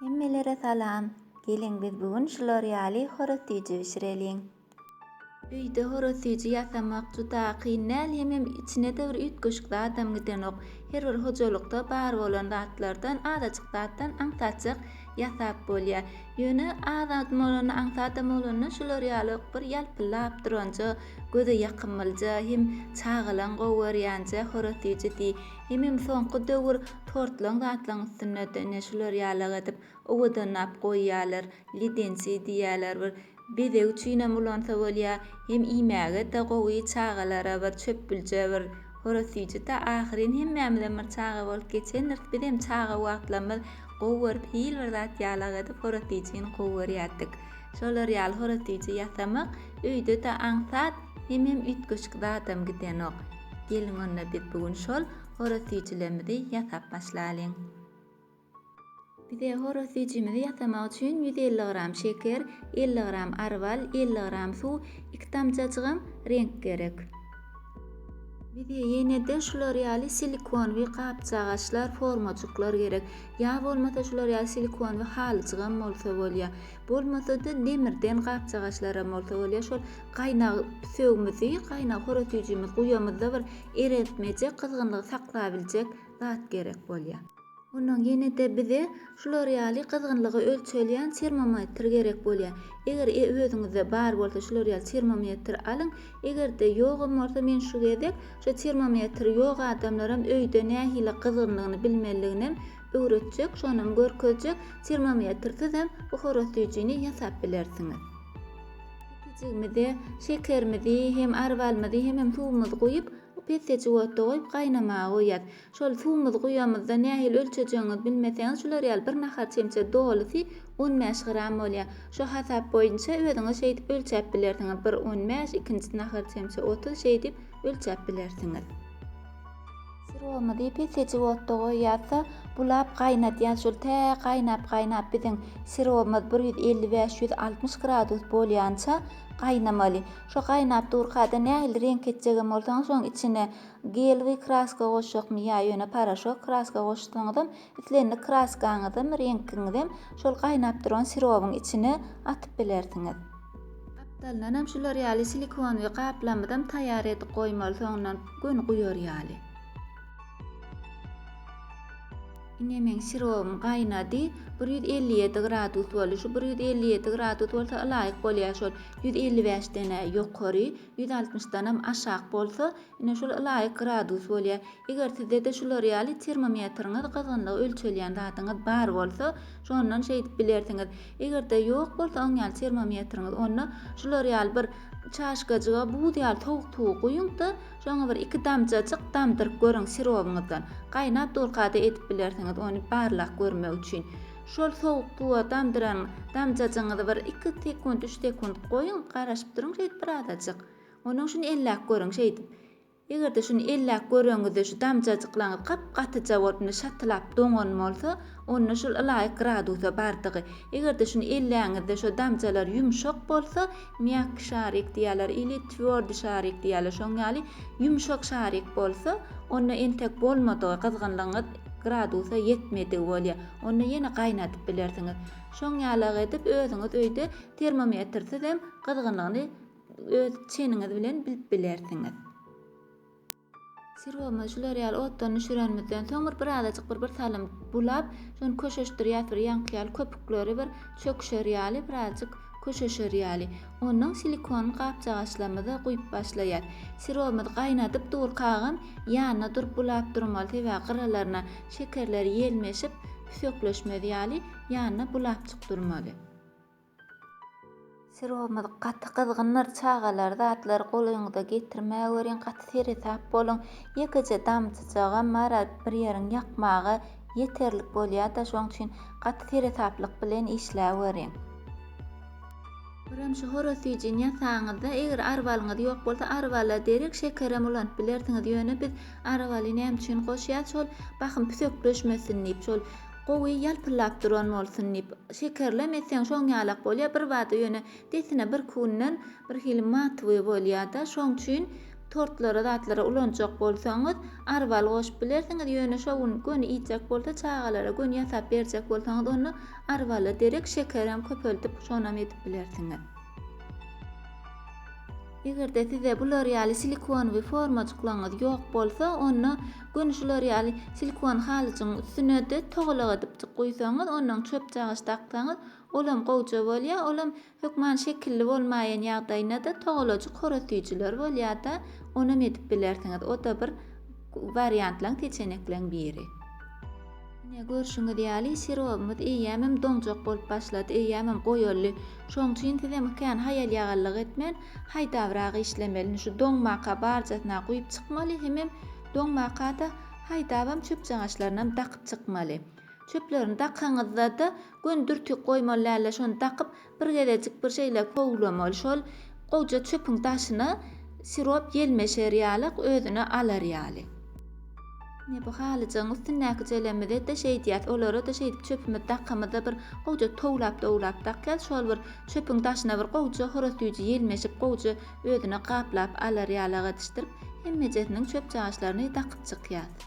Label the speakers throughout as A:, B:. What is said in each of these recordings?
A: Hemmelere salam. Geliň biz bu gün şular ýaly horoz süýji bişireliň. Öýde horoz süýji ýasamak juda kyn däl hemem içinede bir üýtgeşik zadam gidenok. Her bir hojalykda bar bolan zatlardan azajyk zatdan aňsatjak ýasap bolýar. Ýöne azam bolanda aňsadam bolanda şular ýaly bir ýalpyllap duranja göze ýakymlja hem çagalaň gowy görýänje horoz süýji diý. Hemem soňky döwür tortlaň zatlaň üstünde de ne şular ýalak edip owadanlap goýýalar, ledenci diýýäler bir bezeg üçinem ulansa bolýa, hem iýmäge de gowy çagalara bir çöpbülje bir horaz süýji ta ahyryn hemmämizem bir çaga bolup geçendiris bizem çaga wagtlarymyz gowy görüp hil bir zat ýalak edip horaz süýjini gowy görýärdik. Şolar ýaly horaz süýji ýasamak öýde de aňsat hemem üýtgeşik zadam gidenok. Geliň onda biz bu gün şol horaz süýjülerimizi ýasap başlalyň. Bize horaz süýjümizi ýasamak üçin ýüz elli gram şeker, elli gram ary bal, elli gram suw, iki damjajygam reňk gerek. Bize ýene-de şular ýaly silikonwyý gapjagaçlar, formajyklar gerek. Ýa bolmasa şular ýaly silikonwyý halyjygam bolsa bolýar. Bolmasa-da demirden gapjagaçlaram bolsa bolýar, şol gaýnag sögmüzi, gaýnag horasüýjümizi guýamyzda bir ereltmejek, gyzgynlygy saklabiljek zat gerek bolýar. Ondan ýene-de bize şular ýaly gyzgynlygy ölçelýän termometr gerek bolýar. Eger özüňizde bar bolsa şular ýaly termometr alyň. Eger-de ýogam bolsa men şu gezek şu termometri ýok adamlaram öýde nähili gyzgynlygyny bilmeliliginem öwretjek şonam görkezjek termometrsiz-em buhara süýjini ýasap bilersiňiz. Jigimizi, şekerimizi hem arbalymyzy hemem suwumyzy guýup, pesejik otda goýup gaýnamaga goýýas. Şol suwumyzy guýamyzda nähili ölçejegiňizi bilmeseňiz şular ýaly bir nahar çemçe dolusy on bäş gram bolýar. Şo hasap boýunça özüňiz şeýdip ölçäp bilersiňiz bir on bäş ikinjisi nahar çemçe otuz şeýdip ölçäp bilersiňiz. Syrowymyzy pesejik otda goýýarsa, bulap gaýnadýan şol tä gaýnap-gaýnap biziň syrowymyz bir ýüz elli bäş, ýüz altmyş gradus bolýança gaýnamaly. Şo gaýnap durkada nähili reňk etjegem bolsaňyz, şoň içine gelwi kraska goşjakmy ýa ýöne poroşok kraska goşsaňyzam Islendik kraskaňyzam, reňkiňizem şol gaýnap duran sirobyň içine atyp bilersiňiz. Gapdalyndanam şular ýaly silikonowy gaplamyzam taýýar edip goýmaly soňundan göni guýar ýaly. Ine meň sirobym gaýnady. Bir ýüz elli ýedi gradus boldy. Şu bir ýüz elli ýedi gradus bolsa ylaýyk bolýar şol ýüz elli bäşden-ä ýokary, ýüz altmyşdanam aşak bolsa Ine şol ylaýyk gradus bolýar. Eger sizde-de şular ýaly termometriňiz, gyzgynlygy ölçelýän zadyňyz bar bolsa, şondan şeýdip bilersiňiz. Eger-de ýok bolsa oň ýaly termometriňiz, onda şular ýaly bir çaşkajyga buz ýaly sowuk suwy guýuň-da, şoňa bir iki damjajyk damdyryp görüň sirobyňyzdan. Gaýnap durka-da edip bilersiňiz ony barlap görmek üçin. Şol sowuk suwa damdyran damjajygyňyzy bir iki sekunt, üç sekunt goýuň, garaşyp duruň şeýdip birazajyk. Ondan şuny elläp görüň, şeýdip. Eger-de şuny elläp görenňizde şu damjajyklaryňyz gap-gatyja bolup indi şatylap doňan bolsa, onda şol ylaýyk gradusa bardygy. Eger-de şuny elläňizde şo damjalar ýumşak bolsa, mýakki şarik diýýärler ili twýordy şarik diýýärler, şoň ýaly ýumşak şarik bolsa, onda entek bolmadygy, gyzgynlygyňyz gradusa ýetmedigi bolýar. Onda ýene gaýnadyp bilersiňiz. Şoň ýalygy edip özüňiz öýde termometrsiz hem gyzgynlygyny öz çeniňiz bilen bilip bilersiňiz. Sirowymyzy şular ýaly otdan düşürenimizden soň bir bir azajyk bir bir salym bulap, şony köşeşdirýäs bir ýaňky ýaly köpükleri bir çöküşer ýaly bir azajyk köşeşer ýaly. Ondan silikon gapjagaçlarymyza guýup başlaýas. Sirowymyzy gaýnadyp durkagam ýanyna durup bulap durmaly sebäbi gyralaryna şekerler ýelmeşip püsekleşmez ýaly ýanyna bulapjyk durmaly. Syrogymy gaty gyzgyndyr çagalar zatlary goluňyza getirmäweriň gaty seresap boluň ýekeje damjajagam bara bir ýeriň ýakmaga ýeterlik bolýada şoň üçin gaty seresaplyk bilen işläweriň. Birem şu horaz süýjini ýasaňyzda eger arbalyňyz ýok bolsa arbala derek şekerem ulanyp bilersiňiz ýöne biz arbaly näme üçin goşýas şol bahym püsekleşmesin diýip şol Gowy ýalpyllap duran bolsun diýip, şekerlem etseň şoň ýalak bolýar, birbada ýöne desine birki günden birhili matowyý bolýar-da, şoň üçin tortlara zatlara ulanjak bolsaňyz arwal goşup bilersiňiz, ýöne şo gün göni iýjek bolsa çagalara göni ýasap berjek bolsaňyz onda arwala derek şekerem köpeldip şonam edip bilersiňiz. Eger-de sizde bular ýaly silikonowy formajyklaryňyz ýok bolsa, onda göni şular ýaly silikon halyjygyň üstüne-de togalak edipjik guýsaňyz, ondan çöp çagyş daksaňyz, olam gowja bolýar, olam hökman şekilli bolmaýan ýagdaýynda-da togalajyk horasüýjüler bolýar-da, onam edip bilersiňiz. O-da bir Wariantlaň peçenekleň biri. Ine, görşüňiz ýaly, sirobymyz eýýämem doňjak bolup başlady, eýýämem goýuldy. Şoň üçin sizem kän haýal-ýagallyk etmän, haýdabrak işlemeli. Indi şu doňmaka barjasyna guýup çykmaly, hemem doňmaka-da haýdabam çöpjaňaçlarynam dakyp çykmaly. Çöplerini dakaňyzda-da, göni dürtük goýmaly däldir, şony dakyp, Bir gezejik bir şeýle kowlam ol şol goja çöpüň daşyna sirop ýelmeşer ýalak özüne alar ýaly. Ine bu halyjygyň üstündäki jelemize-de şeýdýäs, olara-da şeýdip çöpümiz dakamyzda bir goja towlap-towlap dakýas, şol bir çöpüň daşyna bir goja horaz süýji ýelmeşip goja özüne gaplap alar ýalak edişdirip hemmejesiniň çöpjagaşlaryny dakyp çykýas.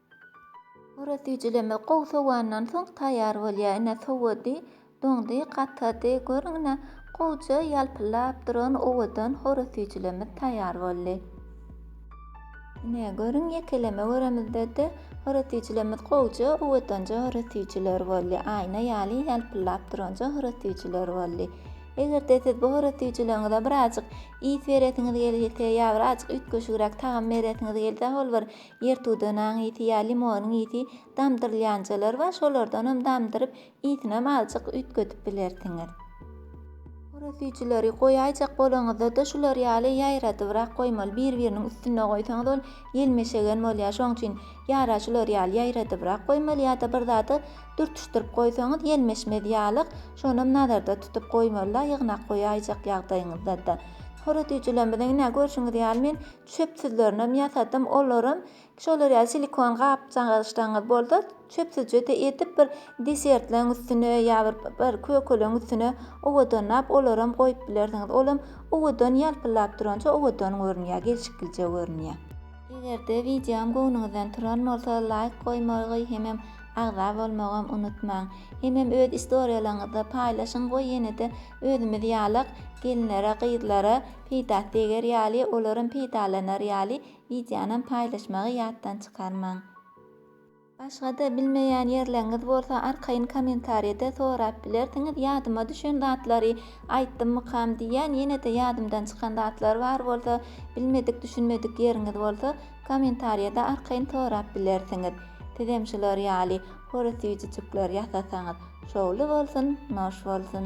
A: Oraz süýjüleme gowy sowandan soň taýýar bolýar. Ine, sowady, doňdy, gatady. Görüň, ine, gowja ýalpyldap duran owadan oraz süýjülemiz taýýar boldy. Ine, görüň, ýekeleme göremizde-de, oraz süýjülemiz gowja, owadanja oraz süýjüler boldy. Aýna ýaly ýalpyldap duranja oraz süýjüler boldy. Eger-de siz bu oraz süýjüleriňize birazajyk ys beresiňiz gelse ýa birazajyk üýtgeşigräk tagam beresiňiz gelse, ol bir Ýertudanaň ýiti ýa limonyň ýiti damdyrylýanjalar bar, şolardanam damdyryp, ýitinem azjyk üýtgedip bilersiňiz. Horoz süýjüleri goýaýjak bolaňyzda-da şular ýaly ýaýradybrak goýmaly, bir-biriniň üstünde goýsaňyz ol ýelmeşegen bolýar, şoň üçin ýara şular ýaly ýaýradybrak goýmaly ýa-da bir zady dürtüşdirip goýsaňyz ýelmeşmez ýalyk, şonam nazarda tutup goýmaly-da, ýygnak goýaýjak ýagdaýyňyzda-da. Horoz süýjülerimiziň ine görşüňiz ýaly men çöpsüzlerinem ýasadym olaram şolar ýaly silikon gap-gaçlaňyz bolsa çöpsüzjede edip bir desertleň üstüne ýa bir bir kökeleň üstüne owadanlap olaram goýup bilersiňiz olam owadan ýalpyllap duranja owadan görünýär gelşiklice görünýär. Egerde wideom göwnüňizden turan bolsa laýk goýmagy hemem agza bolmagam unutmaň. Hemem öz istoriýalaňyzda paýlaşyň we ýenede Özümiz ýalak, gelinlere, gyzlara peýdasy deger ýaly, olaram peýdalanar ýaly wideonam paýlaşmagy ýatdan çykarmaň. Başga-da bilmeýän ýerleriňiz bolsa arkaýyn kommentariýada sorap bilersiňiz, ýadyma düşen zatlary aýtdymmykam diýýän, ýene-de ýadymdan çykan zatlar bar bolsa, bilmedik, düşünmedik ýeriňiz bolsa, kommentariýada arkaýyn sorap bilersiňiz. Sizem şular ýaly, Hory süýjüjikler ýasasaňyz şowly bolsun, noş bolsun!